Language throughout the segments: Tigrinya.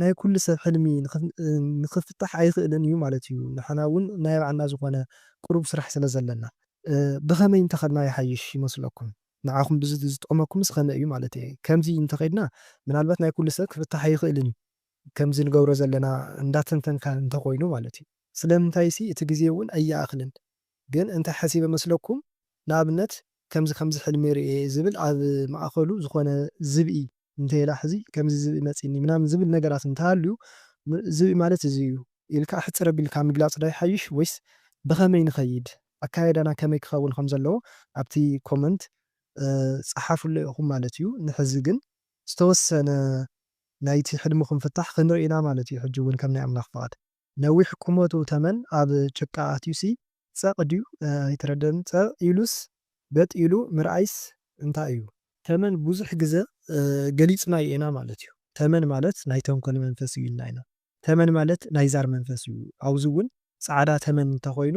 ናይ ኩሉ ሰብ ሕልሚ ንክፍታሕ ኣይክእልን እዩ ማለት እዩ ንሕና እውን ናይ ባዕልና ዝኮነ ቁሩብ ስራሕ ስለ ዘለና ብከመይ እንተከድና ይሓይሽ ይመስለኩም ንዓኩም ዝጥዕመኩምስ ከመይ እዩ ማለት እየ ከምዚ እንተከድና ምናልባት ናይ ኩሉ ሰብ ክፍታሕ ኣይክእልን እዩ ከምዚ ንገብሮ ዘለና እንዳተንተንካ እንተኮይኑ ማለት እዩ ስለምንታይሲ እቲ ግዜ እውን ኣይኣክልን ግን እንታይ ሓሲበ መስለኩም ንኣብነት ከምዚ ከምዚ ሕልሚ ርእየ እየ ዝብል ኣብ ማእኸሉ ዝኾነ ዝብኢ እንተይላ ሕዚ ከምዚ ዝብኢ መፂኒ ምናምን ዝብል ነገራት እንተሃልዩ ዝብኢ ማለት እዚ እዩ ኢልካ ሕፅር ኣቢልካ ምግላፅ ዶ ይሓይሽ ወይስ ብኸመይ ንኸይድ ኣካያይዳና ከመይ ክኸውን ከም ዘለዎ ኣብቲ ኮመንት ፀሓፉለይ ኢኹም ማለት እዩ ንሕዚ ግን ዝተወሰነ ናይቲ ሕልምኹም ፍታሕ ክንርኢ ኢና ማለት እዩ ሕጂ እውን ከም ናይ ኣምላኽ ፍቓድ። ነዊሕ ቁመቱ ተመን ኣብ ጭቃ ኣትዩሲ ጸቕ ድዩ ኣይተረደኣንን ጸቕ ኢሉስ በጥ ኢሉ ምርኣይስ እንታይ እዩ። ተመን ብዙሕ ግዘ ገሊፅናዮ ኢና ማለት እዩ ተመን ማለት ናይ ተንኮል መንፈስ እዩ ኢልና ኢና ተመን ማለት ናይ ዛር መንፈስ እዩ ኣብዚ እውን ፃዕዳ ተመን እንተኾይኑ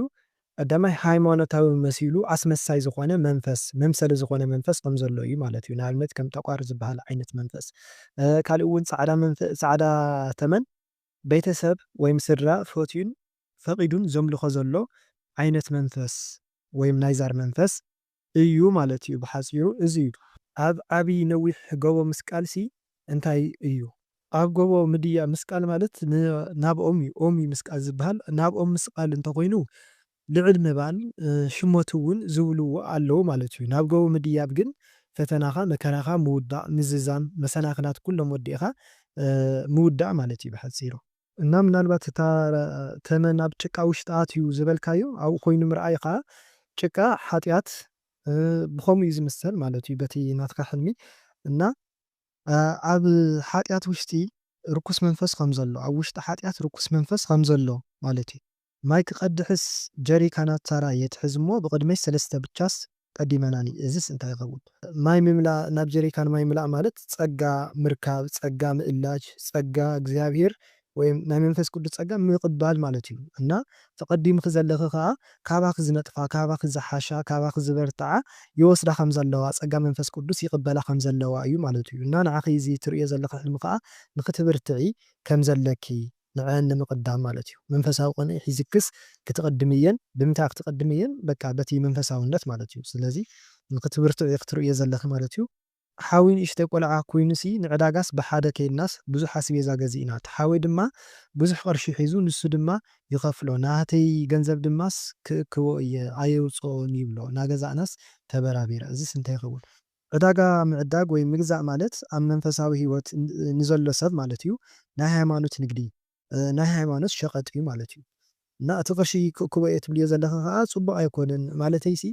ቀዳማይ ሃይማኖታዊ መሲሉ ኣስመሳይ ዝኾነ መንፈስ መምሰሊ ዝኾነ መንፈስ ከም ዘሎ እዩ ማለት እዩ ንኣብነት ከም ጠቋር ዝበሃል ዓይነት መንፈስ ካልእ እውን ፃዕዳ ፃዕዳ ተመን ቤተሰብ ወይም ስድራ ፈትዩን ፈቒዱን ዘምልኾ ዘሎ ዓይነት መንፈስ ወይም ናይ ዛር መንፈስ እዩ ማለት እዩ ብሓጺሩ እዚ እዩ። ኣብ ዓቢ ነዊሕ ጎቦ ምስቃል ሲ እንታይ እዩ? ኣብ ጎቦ ምድያ ምስቃል ማለት ናብ ኦም እዩ ኦም እዩ ምስቃል ዝብሃል ናብ ኦም ምስቓል እንተኾይኑ ልዕል ምባል ሽሞት እውን ዝብልዎ ኣለዉ ማለት እዩ። ናብ ገቡ ምድያብ ግን ፈተናኻ፣ መከራኻ ምውዳእ፣ ምዝዛም፣ መሰናኽላት ኩሎም ወዲእኻ ምውዳእ ማለት እዩ ብሓጺሩ። እና ምናልባት እታ ተመን ኣብ ጭቃ ውሽጢ ኣትዩ ዝበልካዮ ኣብኡ ኮይኑ ምርኣይ ከኣ ጭቃ ሓጥያት ብኸምኡ እዩ ዝምሰል ማለት እዩ በቲ ናትካ ሕልሚ። እና ኣብ ሓጥያት ውሽጢ ርኩስ መንፈስ ከም ዘሎ፣ ኣብ ውሽጢ ሓጥያት ርኩስ መንፈስ ከም ዘሎ ማለት እዩ። ማይ ክቀድሕስ ጀሪካናት ታራ የትሕዝ እሞ ብቅድመይ ሰለስተ ብቻስ ቀዲመናኒ እዝስ እንታይ ይከውን። ማይ ምምላእ ናብ ጀሪካን ማይ ምላእ ማለት ጸጋ ምርካብ ጸጋ ምእላጅ ጸጋ እግዚኣብሄር ወይም ናይ መንፈስ ቅዱስ ጸጋ ምቅባል ማለት እዩ እና ተቀዲምኺ ዘለኺ ከኣ ካባኺ ዝነጥፋ ካባኺ ዝሓሻ ካባኺ ዝበርትዓ ይወስዳ ከም ዘለዋ ጸጋ መንፈስ ቅዱስ ይቅበላ ከም ዘለዋ እዩ ማለት እዩ እና ንዓኺ እዚ ትርእዮ ዘለኺ ሕልሚ ከኣ ንኽትብርትዒ ከም ዘለኪ ንዐኣን ንምቅዳም ማለት እዩ መንፈሳዊ ቅንኢ ሒዝክስ ክትቅድምየን ብምንታይ ክትቅድምየን በቃ በቲ መንፈሳውነት ማለት እዩ ስለዚ ንክትብርትዒ ክትርእዮ ዘለኪ ማለት እዩ። ሓወይ ንእሽተይ ቆልዓ ኮይኑሲ ንዕዳጋስ ብሓደ ከይድናስ ብዙሕ ኣስቤዛ ገዚእና እቲ ሓወይ ድማ ብዙሕ ቅርሺ ሒዙ ንሱ ድማ ይከፍሎ ናተይ ገንዘብ ድማስ ክእክቦ እየ ኣየውፅኦን ይብሎ ናገዛእናስ ተበራቢረ እዚስ እንታይ ይከውን ዕዳጋ ምዕዳግ ወይ ምግዛእ ማለት ኣብ መንፈሳዊ ሕይወት ንዘሎ ሰብ ማለት እዩ ናይ ሃይማኖት ንግዲ ናይ ሃይማኖት ሸቀጥ እዩ ማለት እዩ እና እቲ ቅርሺ ክእክቦ እየ ትብልዮ ዘለኺ ከኣ ጽቡቅ ኣይኮነን ማለተይሲ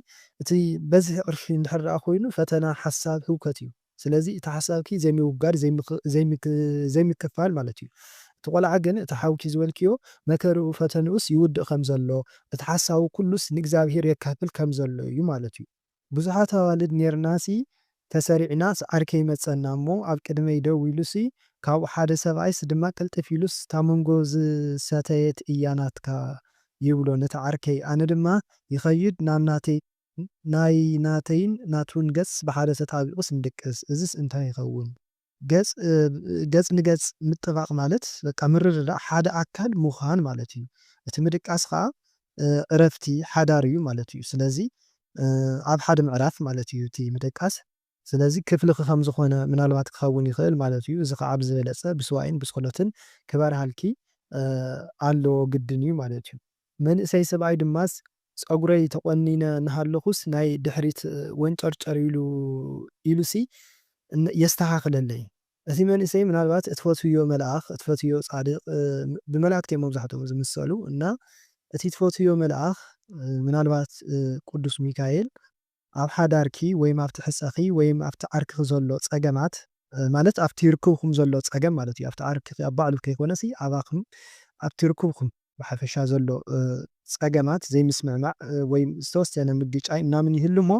እቲ በዝሒ ቅርሺ እንድሕር ደኣ ኮይኑ ፈተና ሓሳብ ህውከት እዩ ስለዚ እቲ ሓሳብኪ ዘይምውጋድ ዘይምክፋል ማለት እዩ እቲ ቆልዓ ግን እቲ ሓውኪ ዝበልክዮ መከርኡ ፈተንኡስ ይውድእ ከምዘሎ እቲ ሓሳቡ ኩሉስ ንእግዚኣብሔር የካፍል ከምዘሎ እዩ ማለት እዩ ብዙሓት ኣዋልድ ኔርናሲ ተሰሪዕናስ ዓር ከይመጸና እሞ ኣብ ቅድመይ ደው ኢሉሲ ካብኡ ሓደ ሰብኣይስ ድማ ቅልጥፍ ኢሉስ እታ መንጎ ዝሰተየት እያ ናትካ ይብሎ ነቲ ዓርከይ ኣነ ድማ ይኸይድ ናብ ናተይ ናይ ናተይን ናቱን ገጽ ብሓደ ተጣቢቑስ ንድቅስ እዝስ እንታይ ይኸውን ገጽ ገጽ ንገጽ ምጥባቕ ማለት በቃ ምርድዳእ ሓደ ኣካል ምዃን ማለት እዩ። እቲ ምድቃስ ከኣ ዕረፍቲ ሓዳር እዩ ማለት እዩ። ስለዚ ኣብ ሓደ ምዕራፍ ማለት እዩ እቲ ምድቃስ። ስለዚ ክፍልኺ ከም ዝኾነ ምናልባት ክኸውን ይኽእል ማለት እዩ። እዚ ከኣ ብዝበለጸ ብሱባኤን ብጸሎትን ክበርሃልኪ ኣለዎ ግድን እዩ ማለት እዩ። መንእሰይ ሰብኣይ ድማስ ጸጉረይ ተቖኒነ እናሃለኹስ ናይ ድሕሪት ወንጨርጨር ኢሉ ኢሉሲ የስተኻኽለለይ። እቲ መንእሰይ ምናልባት እትፈትውዮ መልኣኽ፣ እትፈትውዮ ጻድቕ፣ ብመላእክቲ እዮም መብዛሕትኦም ዝምሰሉ፣ እና እቲ ትፈትውዮ መልኣኽ ምናልባት ቅዱስ ሚካኤል፣ ኣብ ሓዳርኪ ወይም ኣብቲ ሕጸኺ ወይም ኣብቲ ዓርክኺ ዘሎ ጸገማት ማለት ኣብቲ ርክብኩም ዘሎ ጸገም ማለት እዩ ኣብቲ ዓርክኺ ኣብ ባዕሉ ከይኮነሲ ኣባኹም ኣብቲ ርክብኩም ብሓፈሻ ዘሎ ጸገማት ዘይምስምዕማዕ ወይም ዝተወሰነ ምግጫይ ምናምን ይህሉ እሞ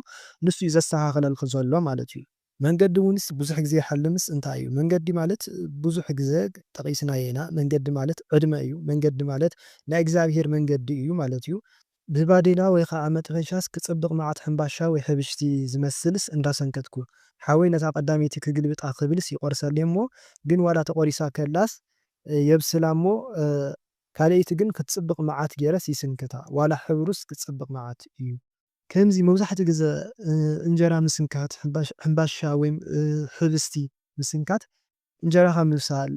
ንሱ እዩ ዘስተኻኽለልኪ ዘሎ ማለት እዩ። መንገዲ ውንስ ብዙሕ ግዜ ይሓልምስ እንታይ እዩ መንገዲ ማለት ብዙሕ ግዘ ጠቂስናዮ ኢና መንገዲ ማለት ዕድመ እዩ መንገዲ ማለት ናይ እግዚኣብሄር መንገዲ እዩ ማለት እዩ ብባዴላ ወይ ኻዓ መጥበሻስ ክፅብቅ ማዓት ሕምባሻ ወይ ሕብሽቲ ዝመስልስ እንዳሰንከትኩ ሓወይ ነታ ቀዳመይቲ ክግልብጣ ክብልስ ይቆርሰለይ እሞ ግን ዋላ ተቆሪሳ ከላስ የብስላ እሞ ካልኤይቲ ግን ክትፅብቅ ማዓት ገይረስ ይስንክታ ዋላ ሕብሩስ ክፅብቅ ማዓት እዩ ከምዚ መብዛሕትኡ ግዘ እንጀራ ምስንካት፣ ሕንባሻ ወይ ሕብስቲ ምስንካት እንጀራኻ ምብሳል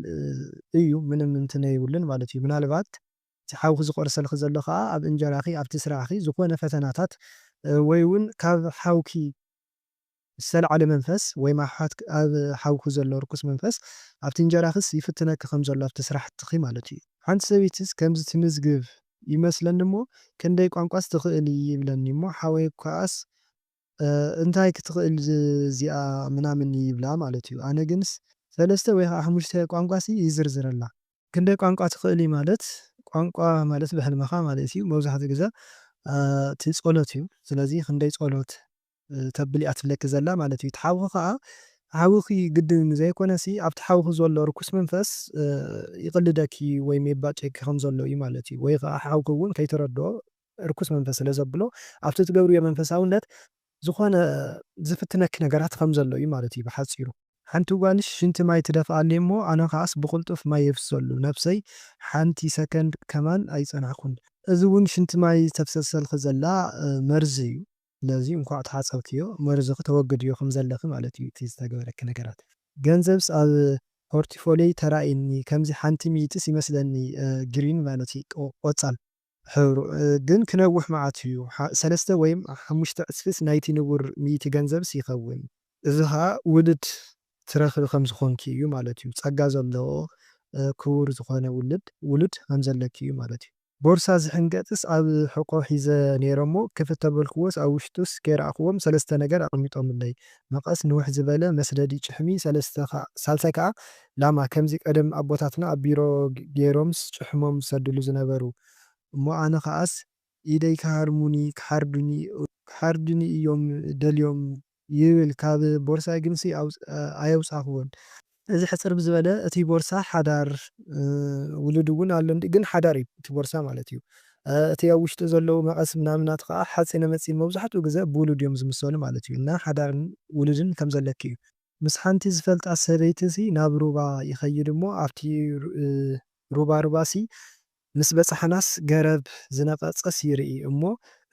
እዩ ምንም እንትን የብሉን ማለት እዩ። ምናልባት እቲ ሓውኺ ዝቆርሰልኺ ዘሎ ከኣ ኣብ እንጀራኺ ኣብቲ ስራሕኺ ዝኾነ ፈተናታት ወይ ውን ካብ ሓውኪ ዝተላዕለ መንፈስ ወይ ማሕሓት ኣብ ሓውኪ ዘሎ ርኩስ መንፈስ ኣብቲ እንጀራኺስ ይፍትነኪ ከም ዘሎ ኣብቲ ስራሕትኺ ማለት እዩ። ሓንቲ ሰበይትስ ከምዚ ትምዝግብ ይመስለኒ እሞ ክንደይ ቋንቋስ ትኽእሊ ይብለኒ እሞ ሓወይ ክኣስ እንታይ ክትኽእል እዚኣ ምናምን ይብላ ማለት እዩ ኣነ ግንስ ሰለስተ ወይ ከዓ ሓሙሽተ ቋንቋሲ ይዝርዝረላ። ክንደይ ቋንቋ ትኽእሊ ማለት ቋንቋ ማለት ብሕልምኻ ማለት እዩ መብዛሕትኡ ግዘ እቲ ፀሎት እዩ ስለዚ ክንደይ ፀሎት ተብል እያ ትብለኪ ዘላ ማለት እዩ እቲ ሓውኺ ከኣ ሓውኺ ግድን ዘይኮነሲ ኣብቲ ሓውኺ ዘሎ ርኩስ መንፈስ ይቅልደኪ ወይም የባጭየኪ ከም ዘሎ እዩ ማለት እዩ ወይ ከኣ ሓውኺ እውን ከይተረድኦ ርኩስ መንፈስ ስለ ዘብሎ ኣብቲ ትገብርዮ መንፈሳውነት ዝኾነ ዝፍትነኪ ነገራት ከም ዘሎ እዩ ማለት እዩ ብሓጺሩ። ሓንቲ ጓልሽ ሽንቲ ማይ ትደፍኣለይ እሞ ኣነ ከኣስ ብቅልጡፍ ማይ የፍስሰሉ ነብሰይ ሓንቲ ሰከንድ ከማን ኣይጸናሕኩን። እዚ እውን ሽንቲ ማይ ተፍሰሰልኺ ዘላ መርዚ እዩ። ስለዚ እንኳዕ ተሓጸብክዮ መርዝኺ ተወግድዮ ከምዘለኺ ማለት እዩ እቲ ዝተገበረኪ ነገራት። ገንዘብስ ኣብ ፖርቲፎልዮይ ተራእይኒ ከምዚ ሓንቲ ሚእቲስ ይመስለኒ ግሪን ማለት እዩ ቆጻል ሕብሩ ግን ክነውሕ መዓት እዩ ሰለስተ ወይም ሓሙሽተ ዕጽፊስ ናይቲ ንቡር ሚእቲ ገንዘብስ ይኸውን እዚ ኸኣ ውሉድ ትረኽቢ ከም ዝኾንኪ እዩ ማለት እዩ። ጸጋ ዘለዎ ክቡር ዝኾነ ውሉድ ውሉድ ከም ዘለኪ እዩ ማለት እዩ። ቦርሳ ዝሕንገጥስ ኣብ ሕቆ ሒዘ ኔረ እሞ ክፍት ተበልክዎስ ኣብ ውሽጡስ ከይረኣክዎም ሰለስተ ነገር ኣቀሚጦምለይ መቀስ ንውሕ ዝበለ መስደዲ ጭሕሚ ሰለስተ ሳልሳይ ከኣ ላማ ከምዚ ቀደም ኣቦታትና ኣብ ቢሮ ጌሮምስ ጭሕሞም ዝሰድሉ ዝነበሩ እሞ ኣነ ከኣስ ኢደይ ክሃርሙኒ ክሓርዱኒ ክሓርዱኒ እዮም ደልዮም ይብል ካብ ቦርሳይ ግንሲ ኣየውጻኹዎን። እዚ ሕጽር ብዝበለ እቲ ቦርሳ ሓዳር ውሉድ እውን ኣሎ እንድዩ ግን ሓዳር እዩ እቲ ቦርሳ ማለት እዩ እቲ ኣብ ውሽጡ ዘለዉ መቐስ ምናምናት ኸኣ ሓጺነ መጺን መብዛሕትኡ ግዘ ብውሉድ እዮም ዝምሰሉ ማለት እዩ እና ሓዳርን ውሉድን ከም ዘለኪ እዩ። ምስ ሓንቲ ዝፈልጣ ሰበይቲሲ ናብ ሩባ ይኸይድ እሞ ኣብቲ ሩባ ሩባሲ ምስ በጻሕናስ ገረብ ዝነቐጸስ ይርኢ እሞ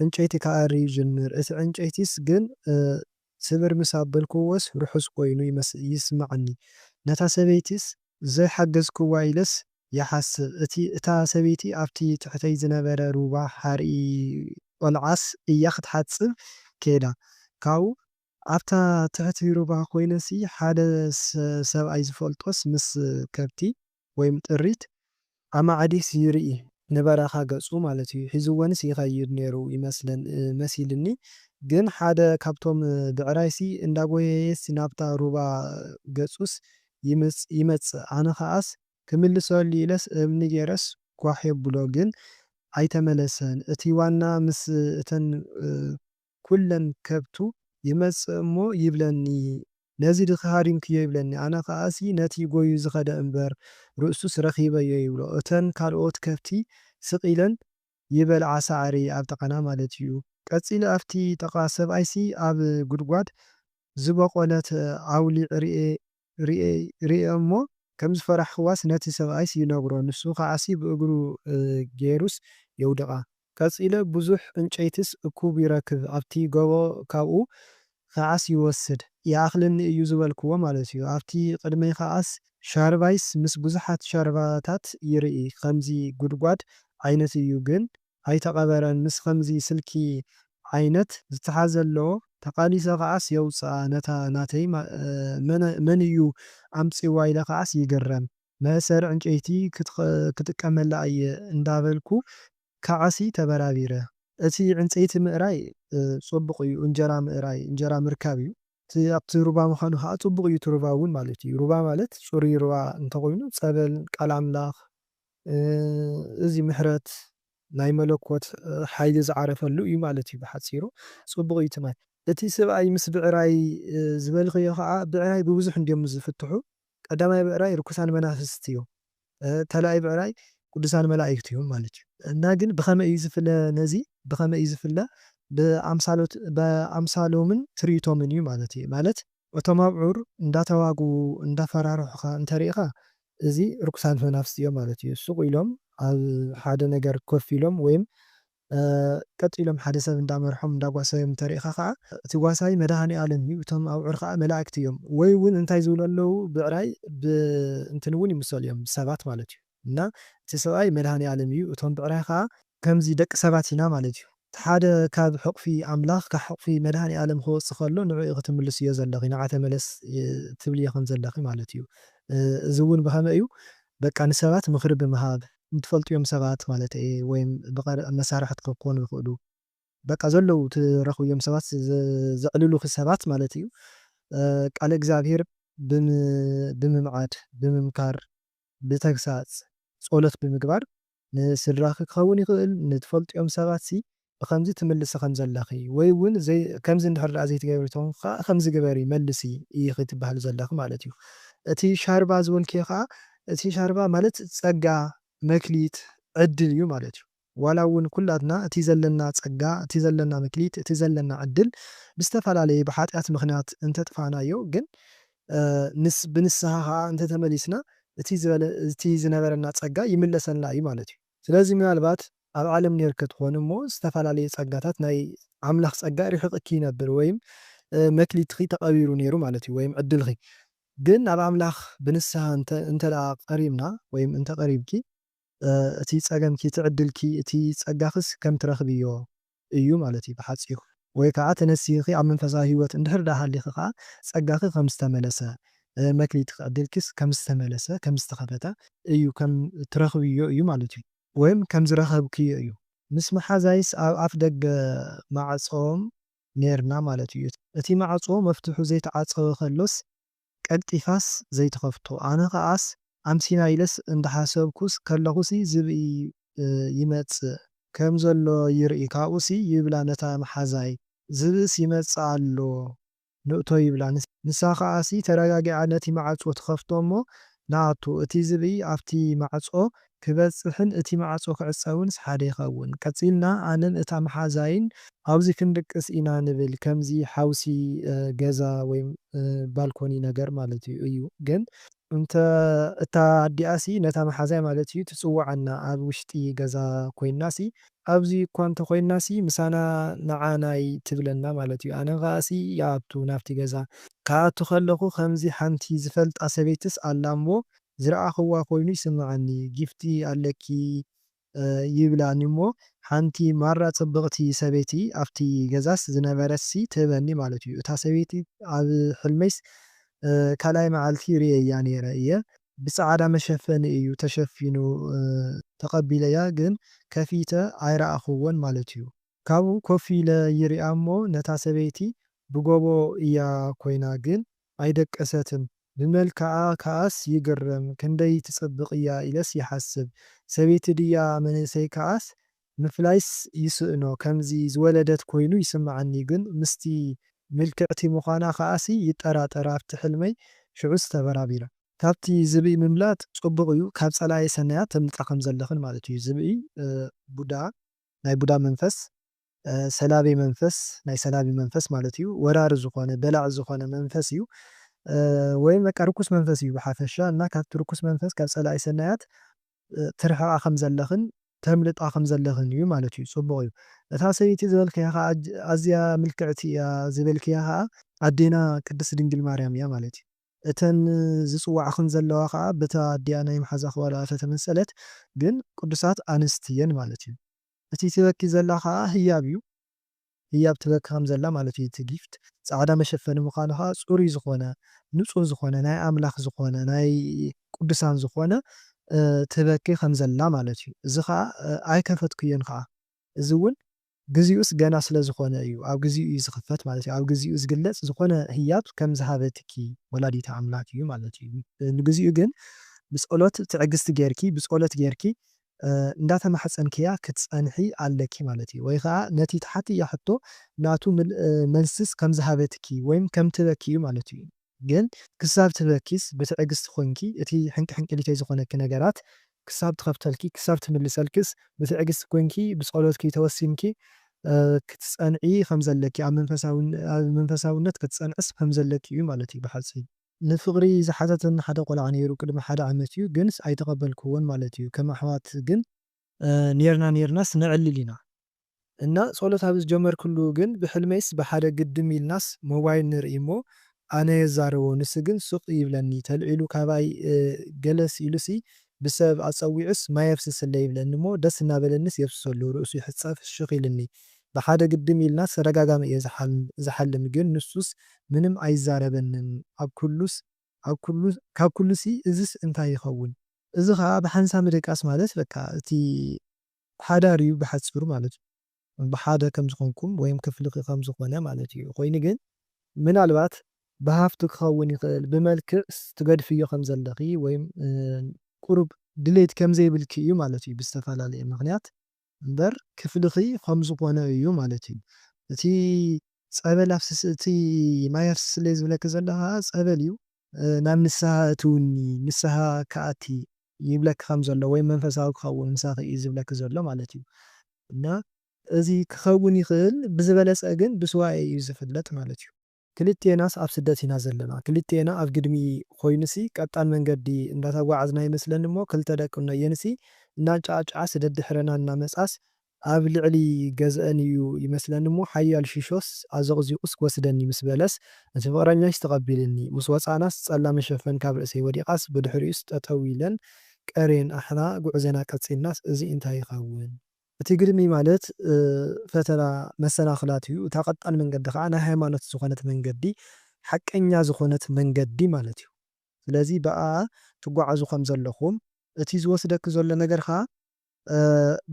ዕንጨይቲ ክኣሪ ይጅምር። እቲ ዕንጨይቲስ ግን ስብር ምስ ኣበልክዎስ ርሑስ ኮይኑ ይስምዓኒ። ነታ ሰበይቲስ ዘይሓገዝክዋ ኢለስ ይሓስብ። እቲ እታ ሰበይቲ ኣብቲ ትሕተይ ዝነበረ ሩባ ሓርኢ ቆልዓስ እያ ክትሓጽብ ከይዳ። ካብኡ ኣብታ ትሕቲ ሩባ ኮይነሲ ሓደ ሰብኣይ ዝፈልጦስ ምስ ከብቲ ወይም ጥሪት ኣማዕዲስ ይርኢ ንበረኻ ገጹ ማለት እዩ ሒዝወንስ ይኸይድ ነይሩ ይመስለን መሲልኒ ግን ሓደ ካብቶም ብዕራይሲ እንዳጎየየስ ናብታ ሩባ ገጹስ ይምጽ ይመጽእ ኣነ ኸኣስ ክምልሰሉ ኢለስ እምኒ ገይረስ ጓሕ የብሎ ግን ኣይተመለሰን እቲ ዋና ምስ እተን ኩለን ከብቱ ይመጽእ እሞ ይብለኒ ነዚ ድኺ ሃሪምክዮ ይብለኒ ኣነ ከኣሲ ነቲ ጎዩ ዝኸደ እምበር ርእሱስ ረኺበዮ ይብሎ እተን ካልኦት ከብቲ ስቅ ኢለን ይበልዓ ሳዕሪ ኣብ ጥቃና ማለት እዩ ቀጺለ ኣብቲ ጥቃ ሰብኣይሲ ኣብ ጉድጓድ ዝቦቆለት ኣውሊዕ ሪኤ ሪኤ እሞ ከምዝፈራሕክዋስ ነቲ ሰብኣይስ ይነግሮ ንሱ ከዓሲ ብእግሩ ጌሩስ የውድቃ። ቀጺለ ብዙሕ ዕንጨይቲስ እኩብ ይረክብ ኣብቲ ጎቦ ካብኡ ከዓስ ይወስድ ይኣኽለኒ እዩ ዝበልክዎ ማለት እዩ ኣብቲ ቅድመይ ከዓስ ሻርባይስ ምስ ብዙሓት ሻርባታት ይርኢ ከምዚ ጉድጓድ ዓይነት እዩ ግን ኣይተቀበረን ምስ ከምዚ ስልኪ ዓይነት ዝተሓዘ ኣሎ ተቃሊሰ ከዓስ የውጽኣ ነታ ናተይ መን እዩ ኣምጺዋ ኢለ ከዓስ ይግረም መእሰሪ ዕንጨይቲ ክጥቀመላ እየ እንዳበልኩ ከዓሲ ተበራቢረ። እቲ ዕንጸይቲ ምእራይ ጹቡቅ እዩ እንጀራ ምእራይ እንጀራ ምርካብ እዩ እቲ ኣብቲ ሩባ ምካኑ ከኣ ጹቡቅ እዩ እቲ ሩባ ውን ማለት እዩ ሩባ ማለት ጹሩይ ሩባ እንተኮይኑ ጸበል ቃል ኣምላክ እዚ ምሕረት ናይ መለኮት ሓይሊ ዝዓረፈሉ እዩ ማለት እዩ ብሓጺሩ። ጽቡቕ እዩ ትማል። እቲ ስብኣይ ምስ ብዕራይ ዝበልክዮ ከኣ ብዕራይ ብብዙሕ እንድዮም ዝፍትሑ ቀዳማይ ብዕራይ ርኩሳን መናፍስት እዮም ካልኣይ ብዕራይ ቅዱሳን መላኢክት እዮም ማለት እዩ። እና ግን ብከመይ እዩ ዝፍለ ነዚ ብከመይ እዩ ዝፍለ ብኣምሳሎት ብኣምሳሎምን ትርኢቶምን እዩ ማለት እዩ ማለት እቶም ኣብዑር እንዳተዋግኡ እንዳፈራርሑኻ እንተሪኢኻ እዚ ርኩሳን መናፍስቲ እዮም ማለት እዩ። ሱቕ ኢሎም ኣብ ሓደ ነገር ኮፍ ኢሎም ወይም ቀጥ ኢሎም ሓደ ሰብ እንዳመርሖም እንዳጓሰዮም እንተሪኢኻ ከኣ እቲ ጓሳይ መድሃኒኣለም እዩ እቶም ኣብዑር ከኣ መላእክቲ እዮም ወይ ውን እንታይ ዝብሉ ኣለዉ ብዕራይ ብእንትን ውን ይምሰሉ እዮም ብሰባት ማለት እዩ። እና እቲ ሰብኣይ መድኃኔዓለም እዩ እቶም ብዕራይ ከኣ ከምዚ ደቂ ሰባት ኢና ማለት እዩ እቲ ሓደ ካብ ሕቁፊ ኣምላኽ ካብ ሕቁፊ መድኃኔዓለም ክወጽእ ከሎ ንዕኡ ክትምልስዮ ዘለኺ ንዓ ተመለስ ትብልዮ ከም ዘለኺ ማለት እዩ እዚ እውን ብኸመይ እዩ በቃ ንሰባት ምኽሪ ብምሃብ ንትፈልጥዮም ሰባት ማለተይ እየ ወይም ብቀረባ መሳርሕትኪ ክኾኑ ይኽእሉ በቃ ዘለዉ ትረኽብዮም ሰባት ዘዕልሉኺ ሰባት ማለት እዩ ቃለ እግዚኣብሔር ብምምዓድ ብምምካር ብተግሳጽ ጸሎት ብምግባር ንስድራኺ ክኸውን ይኽእል ንትፈልጥዮም ሰባትሲ ብኸምዚ ትምልሲ ከም ዘለኺ ወይ ውን ዘይ ከምዚ እንድሕር ድኣ ዘይትገብሪ ተኾንኪ ከኣ ከምዚ ግበሪ መልሲ ኢኺ ትብሃሊ ዘለኺ ማለት እዩ እቲ ሻርባ ዝወልኪዮ ከኣ እቲ ሻርባ ማለት ጸጋ መክሊት ዕድል እዩ ማለት እዩ። ዋላ እውን ኩላትና እቲ ዘለና ጸጋ፣ እቲ ዘለና መክሊት፣ እቲ ዘለና ዕድል ብዝተፈላለየ ብሓጢኣት ምኽንያት እንተጥፋእናዮ ግን ብንስሃ ከኣ እንተተመሊስና እቲ ዝነበረና ጸጋ ይምለሰልና እዩ ማለት እዩ። ስለዚ ምናልባት ኣብ ዓለም ኔርኪ ትኾኒ እሞ ዝተፈላለየ ጸጋታት ናይ ኣምላኽ ጸጋ ሪሒቕኪ ይነብር ወይም መክሊትኺ ተቐቢሩ ኔሩ ማለት እዩ ወይም ዕድልኺ ግን ናብ ኣምላኽ ብንስሃ እንተደኣ ቀሪብና ወይም እንተቐሪብኪ እቲ ጸገምኪ እቲ ዕድልኪ እቲ ጸጋክስ ከም ትረክብዮ እዩ ማለት እዩ ብሓጺሩ። ወይ ከኣ ተነሲህኺ ኣብ መንፈሳዊ ሂወት እንድሕር ደኣ ሃሊኺ ከኣ ጸጋኺ ከም ዝተመለሰ መክሊትኪ ዕድልኪስ ከም ዝተመለሰ ከም ዝተከፈተ እዩ ከም ትረክብዮ እዩ ማለት እዩ። ወይም ከም ዝረከብክዮ እዩ። ምስ መሓዛይስ ኣብ ኣፍ ደገ ማዕጾ ኔርና ማለት እዩ። እቲ ማዕጾ መፍትሑ ዘይተዓጸወ ከሎስ ቀልጢፋስ ዘይትኸፍቶ ኣነ ከኣስ ኣምሲና ኢለስ እንዳሓሰብኩስ ከለኹሲ ዝብኢ ይመጽእ ከም ዘሎ ይርኢ ካብኡሲ ይብላ ነታ መሓዛይ ዝብእስ ይመጽእ ኣሎ ንእቶ ይብላ ንሳ ከኣሲ ተረጋጊዓ ነቲ ማዕጾ ትኸፍቶ እሞ ንኣቱ እቲ ዝብኢ ኣብቲ ማዕጾ ክበጽሕን እቲ ማዕጾ ክዕጸውንስ ሓደ ይኸውን። ቀጺልና ኣነን እታ መሓዛይን ኣብ'ዚ ክንድቅስ ኢና ንብል፣ ከምዚ ሓውሲ ገዛ ወይ ባልኮኒ ነገር ማለት እዩ ግን እንተ እታ ኣዲኣሲ ነታ መሓዛይ ማለት እዩ ትጽውዓና ኣብ ውሽጢ ገዛ ኮይናሲ ኣብ'ዚ እኳ እንተ ኮይናሲ ምሳና ንዓ ናይ ትብለና ማለት እዩ ኣነ ከኣሲ ይኣቱ ናብ'ቲ ገዛ። ክኣቱ ከለኹ ከምዚ ሓንቲ ዝፈልጣ ሰበይትስ ኣላ እሞ ዝረኣኽዋ ኮይኑ ይስምዓኒ ጊፍቲ ኣለኪ ይብላኒ እሞ ሓንቲ ማራ ጽብቕቲ ሰበይቲ ኣብቲ ገዛስ ዝነበረትሲ ትህበኒ ማለት እዩ እታ ሰበይቲ ኣብ ሕልመይስ ካልኣይ መዓልቲ ርእየያ ኔረ እየ ብጻዓዳ መሸፈኒ እዩ ተሸፊኑ ተቐቢለያ ግን ከፊተ ኣይረኣኽዎን ማለት እዩ። ካብኡ ኮፍ ኢለ ይሪኣ እሞ ነታ ሰበይቲ ብጎቦ እያ ኮይና ግን ኣይደቀሰትን ብመልክዓ ከኣስ ይግረም ክንደይ ትጽብቅ እያ ኢለስ ይሓስብ ሰበይቲ ድያ መንእሰይ ከኣስ ምፍላይስ ይስእኖ ከምዚ ዝወለደት ኮይኑ ይስምዓኒ ግን ምስቲ ምልክዕቲ ምኳና ከኣሲ ይጠራጠር ኣብቲ ሕልመይ ሽዑስ ተበራቢረ። ካብቲ ዝብኢ ምምላጥ ጽቡቅ እዩ ካብ ጸላኢ ሰናያት ተምልጣ ከምዘለክን ማለት እዩ ዝብኢ ቡዳ ናይ ቡዳ መንፈስ። ሰላቢ መንፈስ ናይ ሰላቢ መንፈስ ማለት እዩ ወራሪ ዝኾነ በላዒ ዝኾነ መንፈስ እዩ ወይም በቃ ርኩስ መንፈስ እዩ ብሓፈሻ እና ካብቲ ርኩስ መንፈስ ካብ ፀላኢ ሰናያት ትርሕቓ ከም ዘለኽን ተምልጣ ከም ዘለኽን እዩ ማለት እዩ ፅቡቕ እዩ እታ ሰበይቲ ዝበልክያ ከዓ ኣዝያ ምልክዕቲ እያ ዝበልክያ ከዓ ኣዴና ቅድስት ድንግል ማርያም እያ ማለት እዩ እተን ዝፅዋዕኽን ዘለዋ ከዓ በታ ኣዲኣ ናይ ምሓዛ ክባልኣ ተተመሰለት ግን ቅዱሳት ኣንስት እየን ማለት እዩ። እቲ ትበኪ ዘላ ከኣ ህያብ እዩ ህያብ ትበኪ ከም ዘላ ማለት እዩ እቲ ጊፍት ጻዕዳ መሸፈኒ ምካኑ ከኣ ጽሩይ ዝኮነ ንጹህ ዝኮነ ናይ ኣምላክ ዝኮነ ናይ ቁዱሳን ዝኮነ ትበኪ ከም ዘላ ማለት እዩ እዚ ከኣ ኣይከፈትኩዮን ከኣ እዚ ውን ግዚኡስ ገና ስለ ዝኮነ እዩ ኣብ ግዚኡ እዩ ዝክፈት ማለት እዩ ኣብ ግዚኡ ዝግለጽ ዝኮነ ህያብ ከም ዝሃበትኪ ወላዲተ ኣምላክ እዩ ማለት እዩ ንግዚኡ ግን ብጸሎት ትዕግስቲ ጌርኪ ብጸሎት ጌርኪ እንዳተማሕጸንክያ ክትጸንሒ ኣለኪ ማለት እዩ ወይ ከኣ ነቲ ትሓትያ ሕቶ ናቱ ምልእ መልስስ ከም ዝሃበትኪ ወይም ከም ትበኪ እዩ ማለት እዩ ግን ክሳብ ትበኪስ ብትዕግስቲ ኮንኪ እቲ ሕንቅሕንቅሊተይ ዝኾነኪ ነገራት ክሳብ ትኸፍተልኪ ክሳብ ትምልሰልክስ ብትዕግስቲ ኮንኪ ብጸሎትኪ ተወሲንኪ ክትጸንዒ ከም ዘለኪ ኣብ መንፈሳዊ ኣብ መንፈሳውነት ክትጸንዕስ ከም ዘለኪ እዩ ማለት እዩ ብሓጺሩ። ንፍቅሪ ዝሓተተኒ ሓደ ቆልዓ ኔሩ ቅድሚ ሓደ ዓመት ዩ ግንስ ኣይተቀበልክዎን ማለት ዩ ከም ኣሕዋት ግን ኔርና ኔርናስ ነዕልል ኢና እና ጸሎት ኣብ ዝጀመርክሉ ግን ብሕልመይስ ብሓደ ግድም ኢልናስ ሞባይል ንርኢ እሞ ኣነ የዛርቦ ንስ ግን ሱቅ ይብለኒ ተልዒሉ ካባይ ገለስ ኢሉሲ ብሰብ ኣጸዊዑስ ማይ ኣፍስስለይ ይብለኒ እሞ ደስ እናበለኒስ የፍስሰሉ ርእሱ ይሕጸብ ፍሽክ ኢልኒ ብሓደ ግድም ኢልናስ ተደጋጋሚ እየ ዝሓልም ግን ንሱስ ምንም ኣይዛረበንን ኣብ ኩሉስ ኣብ ኩሉ ካብ ኩሉሲ እዝስ እንታይ ይከውን። እዚ ከኣ ብሓንሳ ምድቃስ ማለት በቃ እቲ ሓዳር እዩ ብሓጺሩ ማለት እዩ። ብሓደ ከም ዝኮንኩም ወይም ክፍልኪ ከም ዝኮነ ማለት እዩ ኮይኑ ግን ምናልባት ብሃፍቲ ክከውን ይክእል ብመልክዕ ትገድፍዮ ከም ዘለኪ ወይም ቁሩብ ድሌት ከም ዘይብልኪ እዩ ማለት እዩ ብዝተፈላለየ ምክንያት እምበር ክፍልኺ ኸም ዝኾነ እዩ ማለት እዩ እቲ ፀበል ኣፍስሲ እቲ ማይ ኣፍስሲ ስለ ዝብለኪ ዘሎ ኸዓ ፀበል እዩ ናብ ንስሃ ኣእትውኒ ንስሃ ክኣቲ ይብለኪ ከም ዘሎ ወይ መንፈሳዊ ክኸውን ምሳኺ እዩ ዝብለኪ ዘሎ ማለት እዩ እና እዚ ክኸውን ይኽእል ብዝበለፀ ግን ብሱባኤ እዩ ዝፍለጥ ማለት እዩ። ክልቴናስ ኣብ ስደት ኢና ዘለና ክልቴና ኣብ ግድሚ ኮይኑሲ ቀጣን መንገዲ እንዳተጓዓዝና ይመስለኒ እሞ ክልተ ደቂ እኖየንሲ እናንጨዓጨዓ ስደት ድሕረና እናመጽኣስ ኣብ ልዕሊ ገዝኣን እዩ ይመስለኒ እሞ ሓያል ሺሾስ ኣዘቕዚቑስ ክወስደኒ ምስ በለስ እቲ ፍቕረኛይስ ተቐቢልኒ ምስ ወጻእናስ ጸላም መሸፈን ካብ ርእሰይ ወዲቓስ ብድሕሪኡስ ጠጠው ኢለን ቀርየን ኣሕና ጉዕዘና ቀጺልናስ እዚ እንታይ ይኸውን እቲ ግድሚ ማለት ፈተና መሰናኽላት እዩ። እታ ቀጣን መንገዲ ከኣ ናይ ሃይማኖት ዝኾነት መንገዲ፣ ሓቀኛ ዝኾነት መንገዲ ማለት እዩ። ስለዚ ብኣኣ ትጓዓዙ ከም ዘለኹም፣ እቲ ዝወስደኪ ዘሎ ነገር ከኣ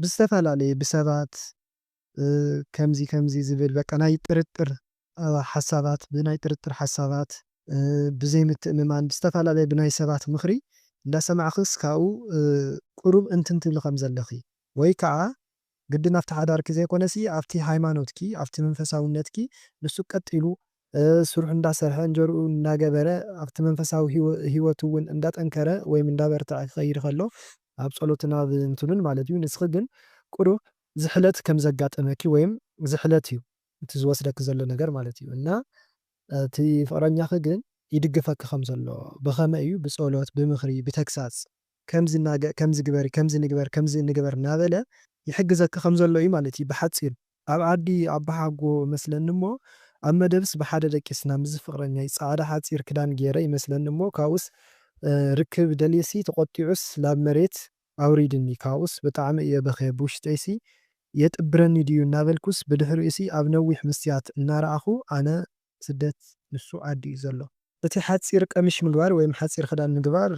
ብዝተፈላለየ ብሰባት ከምዚ ከምዚ ዝብል በቃ ናይ ጥርጥር ሓሳባት ብናይ ጥርጥር ሓሳባት ብዘይ ምትእምማን ብዝተፈላለየ ብናይ ሰባት ምኽሪ እንዳሰማዕኽስ ካብኡ ቁሩብ እንትን ትብሊ ከም ዘለኺ ወይ ካዓ ግድን ኣብቲ ሓዳርኪ ዘይኮነሲ ኣብቲ ሃይማኖትኪ ኣብቲ መንፈሳውነትኪ ንሱ ቀጥ ኢሉ ስርሑ እንዳሰርሐ እንጀርኡ እንዳገበረ ኣብቲ መንፈሳዊ ሂወቱ ውን እንዳጠንከረ ወይም እንዳበርተዐ ክኸይድ ከሎ ኣብ ጸሎትን ኣብ እንትኑን ማለት እዩ ንስኺ ግን ቁሩብ ዝሕለት ከም ዘጋጠመኪ ወይም ዝሕለት እዩ እቲ ዝወስደኪ ዘሎ ነገር ማለት እዩ እና እቲ ፍቅረኛኪ ግን ይድግፈኪ ከም ዘሎ ብከመይ እዩ ብፆሎት ብምክሪ ብተግሳፅ ከምዚ እና ከምዚ ግበሪ ከምዚ ንግበር ከምዚ ንግበር እናበለ ይሕግዘኪ ከም ዘሎ እዩ ማለት እዩ ብሓፂሩ። ኣብ ዓዲ ኣቦሓጎ እመስለኒ እሞ ኣብ መደብስ ብሓደ ደቂስና ምስዚ ፍቅረኛይ ፃዕዳ ሓፂር ክዳን ገይረ ይመስለኒ እሞ ካብኡስ ርክብ ደልየሲ ተቆጢዑስ ላብ መሬት ኣውሪድኒ ካብኡስ ብጣዕሚ እየ በኽየ ብውሽጠይሲ የጥብረኒ ድዩ እናበልኩስ ብድሕሪኡሲ ኣብ ነዊሕ ምስትያት እናረኣኹ ኣነ ስደት ንሱ ዓዲ እዩ ዘሎ። እቲ ሓጺር ቀሚሽ ምግባር ወይም ሓጺር ክዳን ምግባር።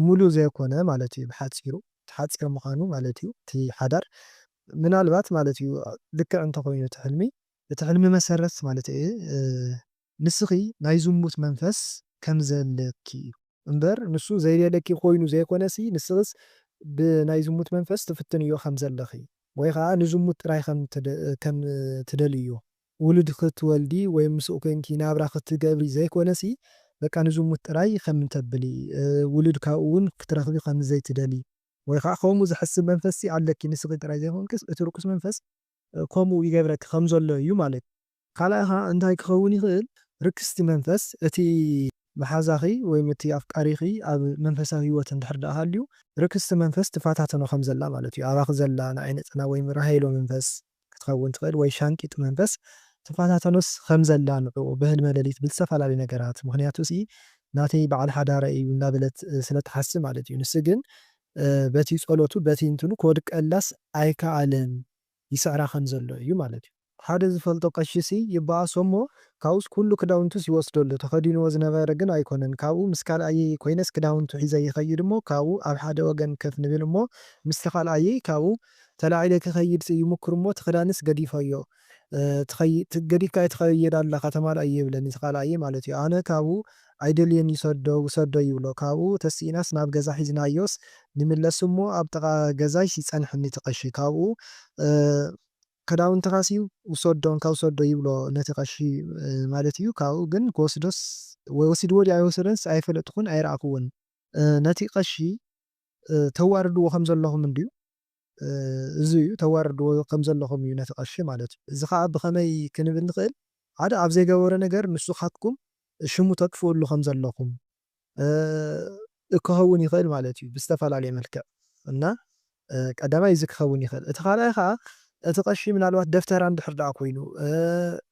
ሙሉ ዘይኮነ ማለት እዩ ብሓጺሩ እቲ ሓጺር ምዃኑ ማለት እዩ እቲ ሓዳር ምናልባት ማለት እዩ ልክዕ እንተኾይኑ እቲ ሕልሚ። እቲ ሕልሚ መሰረት ማለት እየ። ንስኺ ናይ ዝሙት መንፈስ ከም ዘለኪ እዩ። እምበር ንሱ ዘይደልየኪ ኮይኑ ዘይኮነሲ ንስኽስ ብናይ ዝሙት መንፈስ ትፍትንዮ ከም ዘለኺ ወይ ከኣ ንዝሙት ጥራይ ከም ከም ትደልይዮ ውሉድ ክትወልዲ ወይ ምስኡ ኮንኪ ናብራ ክትገብሪ ዘይኮነሲ በቃ ንዝሙት ጥራይ ከም ተብሊ ውሉድ ካብኡ ውን ክትረኽቢ ከም ዘይትደልዪ ወይ ከኣ ከምኡ ዝሕስብ መንፈስሲ ኣለኪ ንስኺ ጥራይ ዘይኮንክስ እቲ ርኩስ መንፈስ ከምኡ ይገብረኪ ከም ዘሎ እዩ ማለት እዩ። ካልኣይ ኸኣ እንታይ ክኸውን ይኽእል? ርክስቲ መንፈስ እቲ መሓዛኺ ወይም እቲ ኣፍቃሪኺ ኣብ መንፈሳዊ ህይወት እንድሕር ደኣ ሃልዩ፣ ርክስቲ መንፈስ ትፈታተኖ ከም ዘላ ማለት እዩ። ኣባኺ ዘላ ንዓይ ነጸላ ወይም ራሄሎ መንፈስ ክትኸውን ትኽእል ወይ ሻንቂጥ መንፈስ ትፈታተኖስ ከም ዘላ ንዕኡ ብህልመ ለሊት ብዝተፈላለዩ ነገራት ምኽንያቱሲ ናተይ በዓል ሓዳረይ እዩ እንዳበለት ስለ ትሓስብ ማለት እዩ። ንሱ ግን በቲ ጸሎቱ በቲ እንትኑ ክወድቀላስ ኣይከኣለን ይስዕራ ከም ዘሎ እዩ ማለት እዩ። ሓደ ዝፈልጦ ቀሺሲ ይበኣሶ እሞ ካብኡስ ኩሉ ክዳውንቱስ ይወስደሉ፣ ተኸዲንዎ ዝነበረ ግን ኣይኮነን፣ ካብኡ ምስ ካልኣየይ ኮይነስ ክዳውንቱ ሒዘ ይኸይድ እሞ ካብኡ ኣብ ሓደ ወገን ከፍ ንብል እሞ ምስቲ ካልኣየይ ካብኡ ተላዒለ ክኸይድስ ይሙክር እሞ እቲ ክዳንስ ገዲፈዮ ትኸይድ ገዲፍካዮ ትኸይድ ኣለኻ ተማልኣዮ ይብለኒ እቲ ካልኣየይ ማለት እዩ ኣነ ካብኡ ኣይደልዮን ይሰዶ ውሰዶ ይብሎ ካብኡ ተሲእናስ ናብ ገዛ ሒዝናዮስ ንምለስ እሞ ኣብ ጥቃ ገዛይስ ይጸንሕኒ እቲ ቀሺ ካብኡ ክዳውንትኻሲ ውሰዶ እንካ ውሰዶ ይብሎ ነቲ ቀሺ ማለት እዩ ካብኡ ግን ክወስዶስ ወሲድዎ ድዩ ኣይወሰደንስ ኣይፈለጥኹን ኣይረኣኽዎን። ነቲ ቀሺ ተዋርድዎ ከምዘለኹም እንድዩ እዚ'ዩ፣ ተዋርድዎ ከም ዘለኹም እዩ ነቲ ቀሺ ማለት እዩ። እዚ ኸኣ ብኸመይ ክንብል ንኽእል፣ ሓደ ኣብ ዘይገበሮ ነገር ንሱኻትኩም ሽሙ ተጥፍእሉ ከም ዘለኹም ክኸውን ይኽእል ማለት እዩ ብዝተፈላለየ መልክዕ እና ቀዳማይ እዚ ክኸውን ይኽእል። እቲ ካልኣይ ኸኣ እቲ ቀሺ ምናልባት ደፍተራ እንድሕር ደኣ ኮይኑ፣